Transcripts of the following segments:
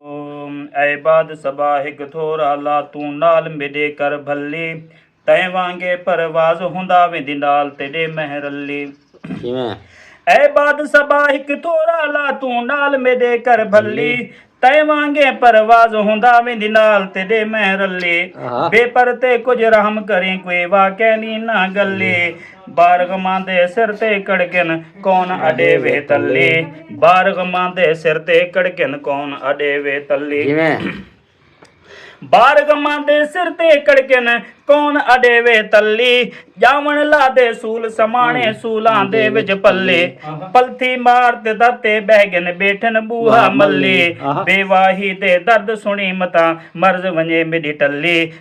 اے باد صبا ہک تھورا لا توں نال میڈے کر بھلی تیں وانگے پرواز ہوندا ویندی نال تیڈے مہ رلی کیویں؟ اے باد صبا ہک تھورا لا توں نال میڈے کر بھلی تیں وانگے پرواز ہوندا ویندی نال تیڈے مہ رلی بے پر تے کجھ رحم کریں کوئی واقعہ نی نہ گلی بارغ ماں دے سر تے کڑکن کون اڈے وے تلے بارغ ماں دے سر تے کڑکن کون اڈے وے تلے بارغ ماں دے سر تے کڑکن کون اڈے وے تلی جاون لا دے سول سمانے سولاں دے وچ پلے پلتھی مار تے در تے بہ گن بیٹھن بوہا ملے بے واہی دے درد سنی متا مرض ونجے میڈی ٹلی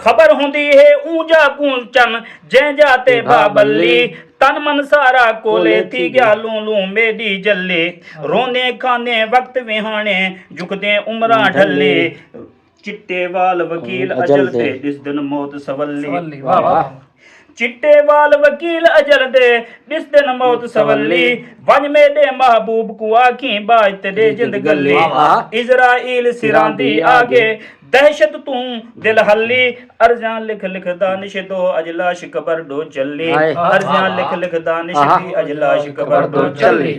خبر ہوندی ہے اوں جا کوں چن جیں جا تے بھا بلی تن من سارا کولے تھی گیا لوں لوں میڈی جلی روندیں کھاندیں وقت ویہانے جھکدیں عمراں ڈھلی چٹے وال وکیل اجل تے ڈسدن موت سولی چٹے وال وکیل اجل دے، ݙسدے نہ موت سولی ونڄ میݙے محبوب کوں آکھیں ٻاجھ تے ݙے جند گھلی عزرائیل سراں دی آڳے دہشت توں دل ہلی عرضیاں لکھ لکھ دانش دو اڄ لاش قبر ݙو چلی عرضیاں لکھ لکھ دانش دی اڄ لاش قبر ݙو چلی۔